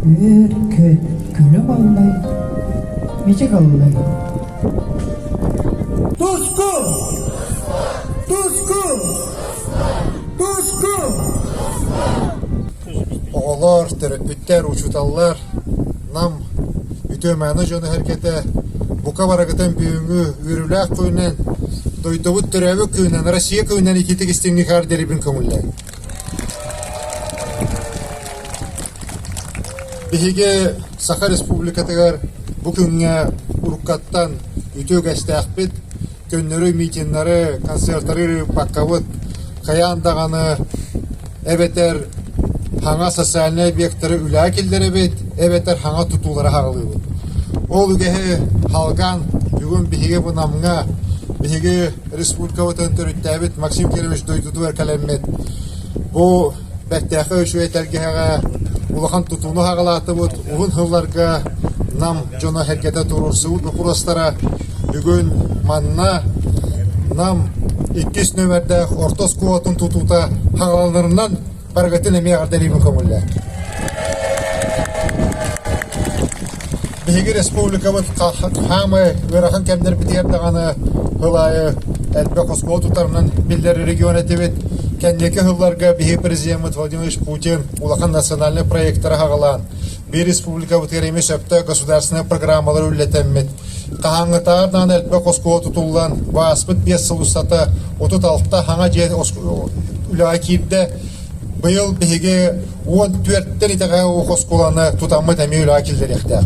Үөр-күөт, күлү-маллай, мичик аллай Туску! Туску! Туску! Оҕолоор, төрөппүттэр, учууталлар, Нам үтүөмээнэ дьоно сэргэтэ бука барагытын бүгүҥҥү үөрүүлээх күнүнэн дойдубут төрөөбүт күнүнэн Россия күнүнэн ититик истиҥник хаар дэрибин көҥүллээн Биһиги Саха Республикатыгар бу күҥҥэ уруккаттан үтүө үгэстээхпит, көннөрү митиннэри, концертары ыыппаккабыт. Хайаан даҕаны эбэтэр хаҥа социальнай объектары үлэҕэ киллэрэбит, эбэтэр хаҥа тутуулары хаҕылыыбыт. Ол үгэһи Халган бүгүн биһиги Вынамҥа, биһиги республикабытын төрүттээбит Максим Кирович дойдутугар кэлэммит бу бэртээхэй үчүгэй тэлгэһэҕэ улахан тутууну хаҕалаатыбыт уһун сылларга Нам дьоно сэргэтэ туруорсубут боппуруостара бүгүн манна Нам иккис нөмэрдээх орто оскуолатын тутуута хаҕаланарынан Барыгытын эмиэ ардариба көҥүллэ. Биһиги республикабыт хаамай ыарахан кэмнэрбитигэр даҕаны ыл аайы элбэх оскуола тутарынан биллэр регион этибит. Кэнники сылларга биһи президеммит Владимир Путин улахан национальный проектары хагалаан, Биир республикабытыгар эмиэ сөпкө государственнай программалар үллэтэммит. Хаһааҥҥытааҕар даҕаны элбэх оскуола тутуллан, бааспыт биэс сыл устата отут алта хаҥа дьиэ үлэҕэ киирдэ. Быйыл биһиги уон түөрттэр итэҕэ оскуоланы тутаммыт эмиэ үлэҕэ киллэриэхтээх.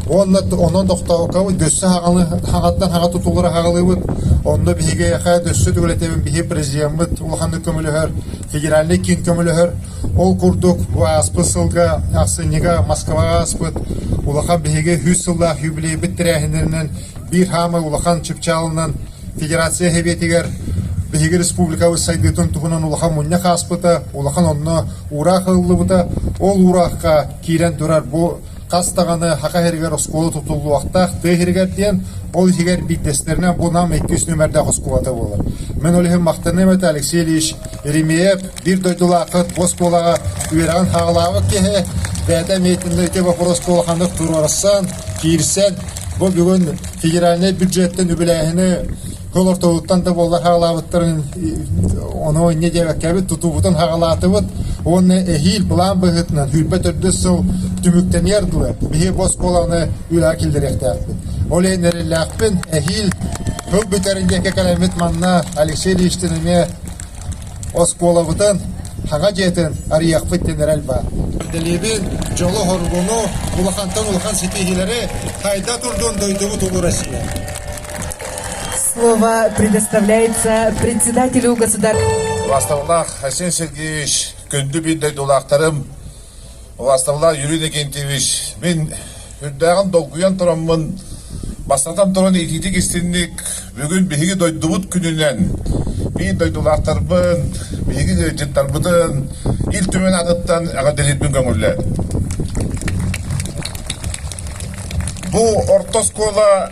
Уонна онон тохтообуккабыт дөссө хаҥаттан хаҥа тутуллара хаҕылыыбыт. Онно биһиги эһэ дөссө үлэтэбин биһи президеммыт улаханнык көмөлөһөр. федеральнай киин көмөлөһөр. Ол курдук, бу ааспыт сылга ахсынньыга Москваҕа ааспыт улахан биһиги үс сыллаах юбилейбыт тэрээһиннэринэн биир хаамай улахан чыпчаалынан Федерация Сэбиэтигэр биһиги республикабыт сайдыытын туһунан улахан мунньах ааспыта, улахан онно уураах ылыллыбыта. Ол уураахха киирэн турар бу хас даҕаны Саха иһигэр оскуола тутуллуохтаах тыа иһигэр диэн, ол иһигэр биирдэстэринэ бу Нам иккис нүмердээх оскуолата буолар. Мин ол иһин махтаныам этэ Алексей Ильич Еремеев биир дойдулаахха оскуолаҕа үөрэҕин хаалаабыт киһи, бэйэтэ миэтиннэйгэ боппуруоска улаханнык туруорсан, киирсэн, бу бүгүн федеральнай бюджеттан үбүлээһини Көл ортолуттан да буоллар хаҕалаабыттарын ону инньэ диэбэккэбит тутуубутун хаҕалаатыбыт уонна эһиил былаан быһыытынан сүүрбэт төрдүс сыл түмүктэниэр дуо биһи бос буолааны үлэҕэ киллэриэхтээхпит ол иһин эрэллээхпин эһиил тыл бүтэрин диэки кэлэммит манна Алексей Ильичтин эмиэ оскуолабытын хаҥа дьиэтин арыйахпыт диэн эрэл баар дэлиибин дьолу хоргуну улахантан улахан ситиһиилэри хайда турдун дойдубут улуу Россия Слово предоставляется председателю государства. Властоллах Хасен Сергеевич, күндү биир дойдулаахтарым, властоллах Юрий Иннокентьевич, мин үрдээҕин долгуйан тураммын, бастатан туран иитиитик истинник, бүгүн биһиги дойдубут күнүнэн биир дойдулаахтарбын, биһиги ыалдьыттарбытын Ил Түмэн аныттан эҕэрдэлиирбин көҥүллээтим. Бу орто оскуола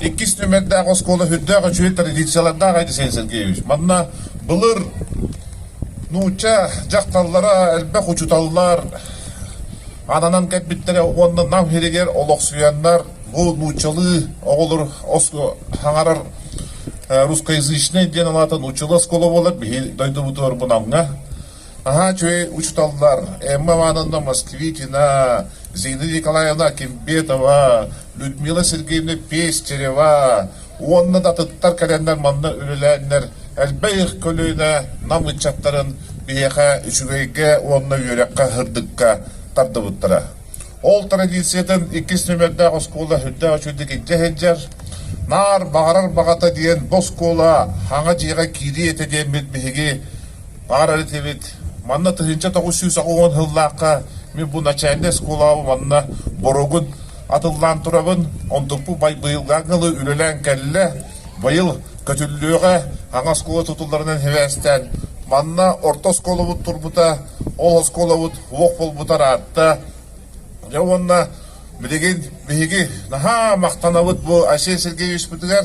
иккис түмэрдээх оскуола сүрдээх үчүгэй традициялардаах Айдисен Сергеевич. Манна былыр нуучча дьахталлара элбэх учуталлар ананан кэлбиттэрэ уонна нам иһигэр олохсуйаннар бу нууччалыы оҕолор хаҥарар русскоязычный диэн алаата нууччалыы оскуола буолар биһи дойдубутугар бу намҥа Наһаа үчүгэй учууталлар Эмма Ивановна Москвитина, Зинаида Николаевна Кимбетова, Людмила Сергеевна Пестерева уонна да атыттар кэлэннэр манна үлэлээннэр элбэх их көлүөнэ нам ыччаттарын биһиэхэ үчүгэйгэ уонна үөрэххэ һырдыкка тардыбыттара. Ол традициятын иккис нөмердээх оскуола үрдээх үчүгдүк илдьэ сылдьар. Наар баҕарар баҕата диэн бу оскуола хаҥа дьиэҕэ киирии этэ диэммит биһиги Баҕарар этибит, манна тыһыынча тоҕус сүүс оҕоҕун сыллаахха мин бу начальнай оскуолабын уонна боруогун атыллаан турабын. Онтукпут быйылга дылы үлэлээн кэллэ. Быйыл көтүллүөҕэ аҥа оскуола тутулларынан сибээстээн. Манна орто оскуолабыт турбута, ол оскуолабыт уох буолбутар аатта. Дьэ уонна билигин биһиги наһаа махтанабыт бу Айсен Сергеевичпитигэр.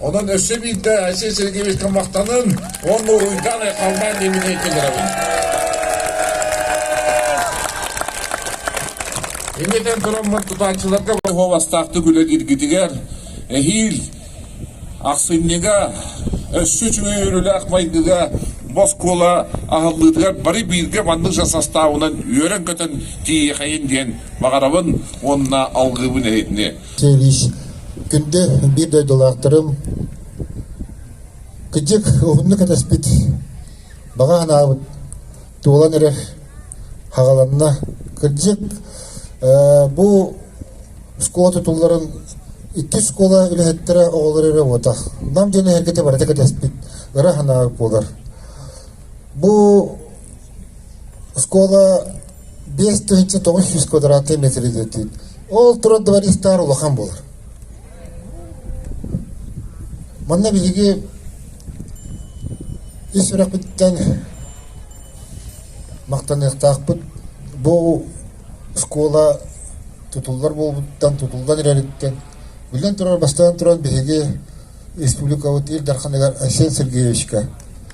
Онон өссө биирдэ Айсен Сергеевичка махтанын уонна уруйдаан айхаллаан диэбитин киллэрэбин. Иннитэн тураммын тутааччыларга уобастаахтык үлэлиргитигэр эһиил ахсынньыга өссө үчүгэй үөрүүлээх майгыга боскуола аһыллыытыгар бары бииргэ маннык жас састаабынан үөрэн-көтөн тиийэхэйин диэн баҕарабын уонна алгыыбын иһитини. Күндү биир дойдулаахтарым, кырдьык, уһуннук кэтэспит, баҕа санаабыт туолан эрэр, хаҕаланна. Кырдьык, бу оскуола тутулларын иккис оскуола үлэһиттэрэ оҕолор эрэ уотах. Нам диэн эһэргэтэ барыта кэтэспит, ыра санаабыт буолар. Бу Оскуола биэс тыһыынча тоҕус сүүс квадратнай метр идэтийд. Ол турар дворецтар улахан буолар. Манна биһиги ис сүрэхпиттэн махтаныахтаахпыт. Бу оскуола тутуллар буолбуттан, тутуллан эрэриттэн, биллэн турар, бастаан туран биһиги республикабыт Ил Дарханыгар Айсен Сергеевичка